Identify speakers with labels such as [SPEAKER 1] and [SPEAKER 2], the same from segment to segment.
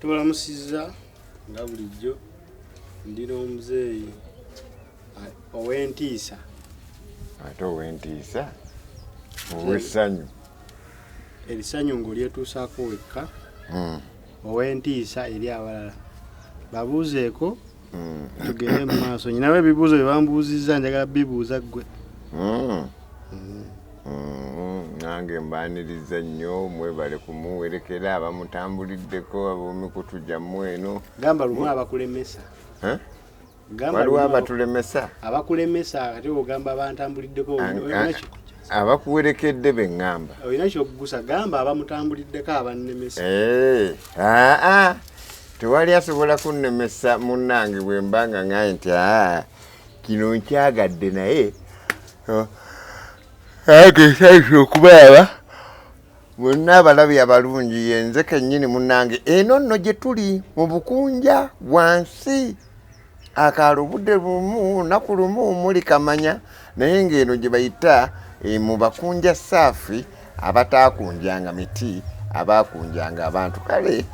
[SPEAKER 1] tubalamusizza nga bulijjo ndi n'omuzeeyi ow'entiisa ate
[SPEAKER 2] ow'entiisa ow'essanyu
[SPEAKER 1] erisanyu ng'olyetuusaako wekka hmm. ow'entiisa eri abalala babuuzeeko Hmm. tugende mu maaso nyinawe ebibuuzo bye bambuuzizza njagala bibuuza ggwe hmm.
[SPEAKER 2] Hmm. nange mbaniriza nnyo mwebale kumuwerekera abamutambuliddeko ab'emikutu gyammwe eno gamba lumu abakulemesa waliwo abatulemesa abakulemesa
[SPEAKER 1] ate ogamba abantambuliddeko abakuwerekedde
[SPEAKER 2] be ŋŋamba olina kyokugusa
[SPEAKER 1] gamba abamutambuliddeko abannemesa eh, aa ah, ah.
[SPEAKER 2] tewali asobola kunnemesa munnange bwe mba nga ŋaye nti aa ah, kino nkyagadde naye oh, agesaife okubaaba bonna abalabi abalungi yenze kennyini munnange eno nno gye tuli mu bukunja wansi akaalo budde lumu naku lumu muli kamanya naye ng'eno gye bayita eh, mu bakunja saafi abataakunjanga miti abaakunjanga abantu kale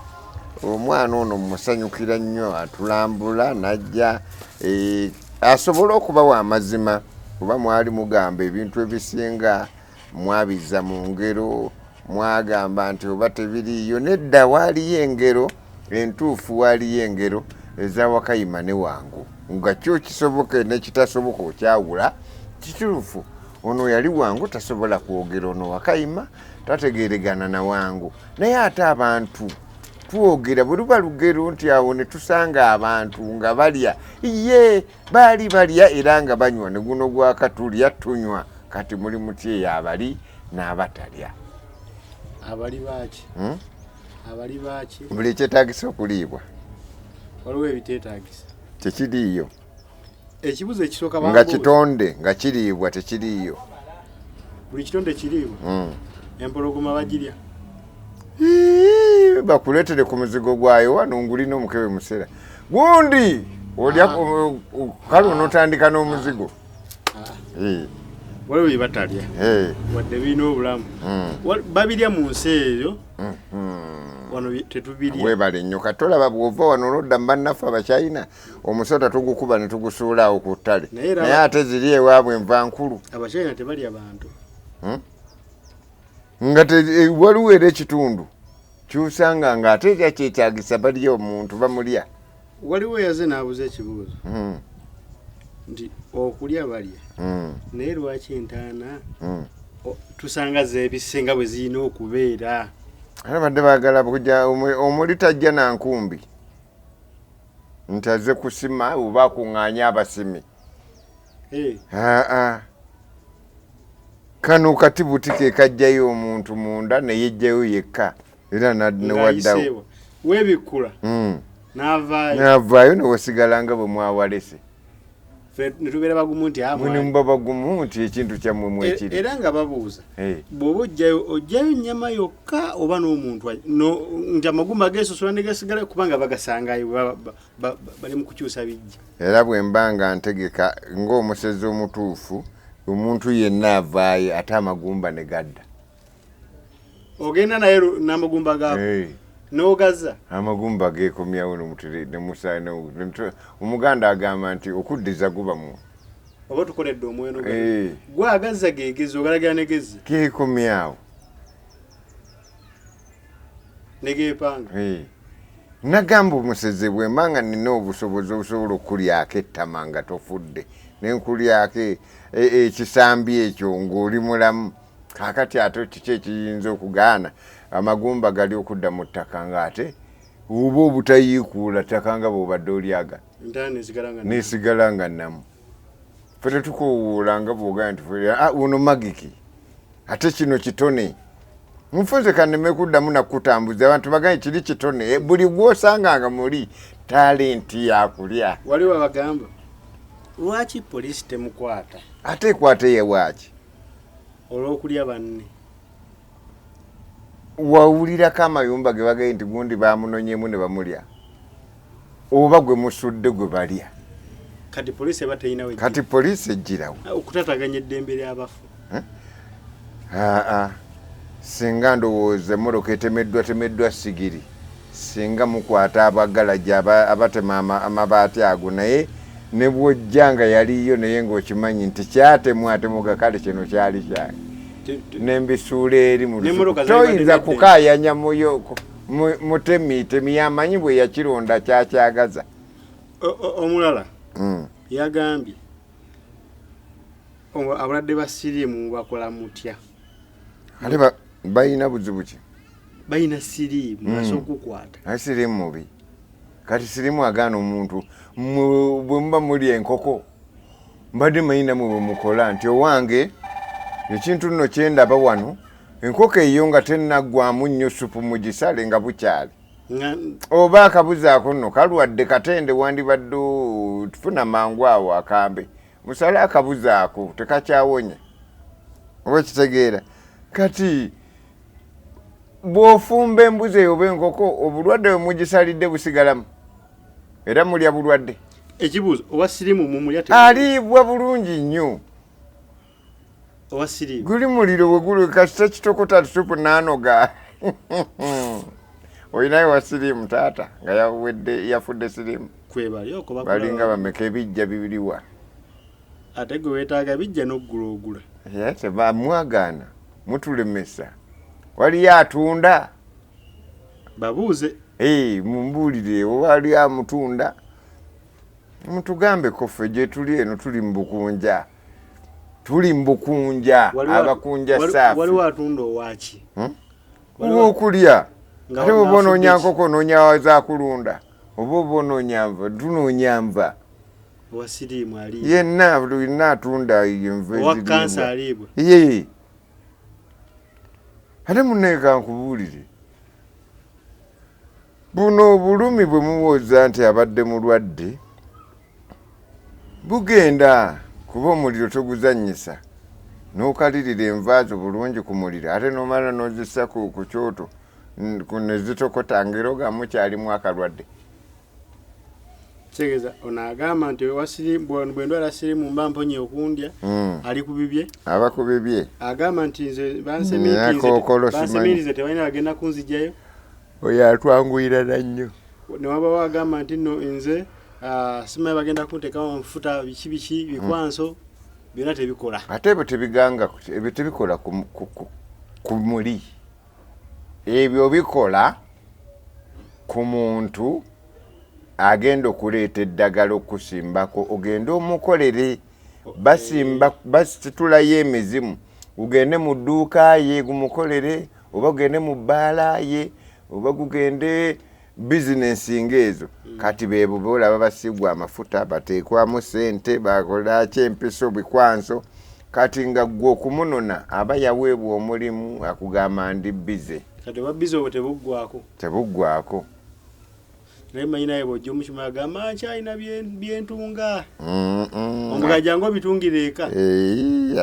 [SPEAKER 2] omwana ono musanyukira nnyo atulambula najja eh, asobole okubawa amazima kuba mwali mugamba ebintu ebisinga mwabizza mu ngero mwagamba nti oba tebiriiyo nedda waaliyo engero entuufu waaliyo engero ezawakayima ne wangu nga kyo kisoboka nekitasoboka okyawula kituufu ono yali wangu tasobola kwogera ono wakayima tategeregana na wangu naye ate abantu twogera bwe luba lugero nti awo ne tusanga abantu nga balya ye baali balya era nga banywa ne guno gwaka tulya tunywa kati muli muti eyo abali n'abatalya
[SPEAKER 1] abali baaki hmm? abali baaki buli ekyetagisa
[SPEAKER 2] okuliibwa waliwo
[SPEAKER 1] ebiteetagisa tekiriiyo ekibuzo ekisooka nga kitonde
[SPEAKER 2] nga kiriibwa tekiriiyo
[SPEAKER 1] buli kitonde kiriibwa hmm. empologoma bagirya
[SPEAKER 2] bakuletere ku muzigo gwayo wano ngulina omukebe musera gundi olya ah. kale onotandika n'omuzigo ah. eh.
[SPEAKER 1] waliwo byebatalya eh. wadde birina obulamu hmm. babirya mu nsi eyo hmm. wano tetubirya webale nnyo kati olaba
[SPEAKER 2] bwova wano olodda mu bannaffe abachina omusota tugukuba ne tugusuulaawo ku ttale naye ate ziri ewaabwe enva nkulu abachina tebalya
[SPEAKER 1] bantu hmm?
[SPEAKER 2] nga eh, waliwo era ekitundu kyusanga nga ate ekya kyetagisa baliyo omuntu bamulya waliwo eyaze
[SPEAKER 1] nabuza ekibuuzo hmm. nti okulya balya hmm. naye lwaki entaana hmm. tusanga zebisinga bwe zirina okubeera abadde
[SPEAKER 2] bagala kuja omuli tajja nankumbi nti aze kusima oba akuŋŋaanya abasimi Eh. aa kano kati buti ke kajjayo omuntu munda ne yejjayo yekka era newaddawo webikkula
[SPEAKER 1] hmm.
[SPEAKER 2] navaayo newasigala nga bwe mwawalese
[SPEAKER 1] netubeera bagumu nti ah, muni muba bagumu
[SPEAKER 2] nti ekintu kyammwe mwekiri e, era nga babuuza
[SPEAKER 1] eh. bwoba ojjayo ojjayo nyama yokka oba n'omuntu nti amagumba gesosola negasigala kubanga bagasangayo bali mu kukyusa bijja era bwe mba nga
[SPEAKER 2] ntegeka ng'omusezi omutuufu omuntu yenna avaayo ate amagumba ne gadda
[SPEAKER 1] ogenda naye n'amagumba gaako n'ogaza amagumba
[SPEAKER 2] geekomyawo omuganda agamba nti okuddiza guba mu oba tukoledde
[SPEAKER 1] omweno gwagazza gegezi ogalagira negezi geekomyawo negepanga eh.
[SPEAKER 2] nagamba omuseze bwemba nga nina obusobozi obusobola okukulyako ettama nga tofudde nenkulyako e, e, ekisambi ekyo ngaoli mulamu kakati ate kiki ekiyinza okugaana amagumba gali okudda mu ttaka ngaate oba obutayiikuula ttaka nga bwobadde olyaga nesigala nga namu fete tukowuula nga bwogaa nti ah, uno magiki ate kino kitone mufunze kaneme kuddamu nakutambuza abantu bagaye kiri kitone eh, buli gwosanganga muli talenti yakulya wali wabagamba
[SPEAKER 1] lwaki polisi temukwata ate ekwata
[SPEAKER 2] yewaki
[SPEAKER 1] olwokulya banne
[SPEAKER 2] wawulirako amayumba ge bagaye nti gundi bamunonyemu ne bamulya oba gwe musudde gwe balya kati poliisi
[SPEAKER 1] eba teyinawe kati poliisi ejjirawo
[SPEAKER 2] ah, okutataganya eddembe
[SPEAKER 1] lyabafu eh?
[SPEAKER 2] aa singa ndowooza emmotoka etemeddwa temeddwa sigiri Singa mukwata abagalagi aba abatema ama, amabaati ago naye ne bwojja nga yaliyo naye ng'okimanyi nti kyatemwa ate muga kale kino kyali kyange ne mbisuula eri mu lusuku toyinza kukaayanya muyo mutemi temi yamanyi bwe yakironda kyakyagaza
[SPEAKER 1] omulala mm. yagambye abalwadde ba siriimu mubakola mutya ate
[SPEAKER 2] balina buzibu ki balina
[SPEAKER 1] siriimu hmm. basobola okukwata ate siriimu mubi
[SPEAKER 2] kati siriimu agaana omuntu bwe muba muli enkoko mbadde manyi namwe bwe mukola nti owange ekintu nno kyendaba wano enkoko eyo nga tenaggwamu nnyo supu mu gisale nga bukyali oba akabuzaako nno kalwadde katende wandibadde tufuna mangu awo akambe musale akabuzi ako tekakyawonye oba ekitegeera kati bwofumba embuzi eyo oba enkoko obulwadde bwe mugisalidde busigalamu era mulya bulwadde ekibuuzo owa
[SPEAKER 1] sirimu mumulya aliibwa bulungi
[SPEAKER 2] nnyo
[SPEAKER 1] guli muliro weguli
[SPEAKER 2] kasita kitokota tusupu nanoga olinayo wa sirimu taata nga yawedde yafudde sirimu balinga bameka ebijja bibiriwa
[SPEAKER 1] ate gwe wetaaga bijja noggula ogula tebamwagaana
[SPEAKER 2] mutulemesa waliyo atunda
[SPEAKER 1] babuuze
[SPEAKER 2] mumbuulire waliyo amutunda mutugambeko ffe gyetuli eno tuli mu bukunja tuli mbukunja abakunja safi waliwo atunda owaki
[SPEAKER 1] hmm? owokulya
[SPEAKER 2] ate oba onoonya nkoko onoonya zakulunda oba oba onoonya nva tunoonya nva
[SPEAKER 1] yenna lulina
[SPEAKER 2] atunda nvaye ate muneeka nkubuulire Buno obulumi bwe muwooza nti abadde mulwadde bugenda kuba omuliro toguzannyisa n'okalirira enva zo bulungi ku muliro ate n'omala n'ozissa ku kyoto ne zitokota ng'era ogamba mukyalimu akalwadde
[SPEAKER 1] kitegeeza ono agamba nti bwendwala sirimu mba mponye okundya hmm. ali ku bibye aba ku bibye
[SPEAKER 2] agamba nti nze
[SPEAKER 1] bansemiitinze tebalina bagenda kunzijayo oyo
[SPEAKER 2] atwanguyira nannyo newabawo agamba nti no
[SPEAKER 1] nze ah, simaye bagenda kuntekawo nfuta biki biki bikwanso byona tebikola ate ebyo tebiganga
[SPEAKER 2] ebyo tebikola ku muli ebyo bikola ku muntu agenda okuleeta eddagala okusimbako ogende omukolere basimba basitulayo emizimu ugende mu dduuka ye gumukolere okay. oba gugende mu bbaala ye oba gugende bizinensi ngaezo mm. kati bebo bolaba basigwa amafuta batekwamu sente bakolaki empiso bikwanso kati nga gwe okumunona aba yaweebwa omulimu akugamba ndi bize
[SPEAKER 1] tebuggwako naye manyi naye bwojja omukima agamba nti alina byentunga omugajangu
[SPEAKER 2] obitungira
[SPEAKER 1] eka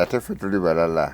[SPEAKER 2] ate
[SPEAKER 1] fe tuli
[SPEAKER 2] balala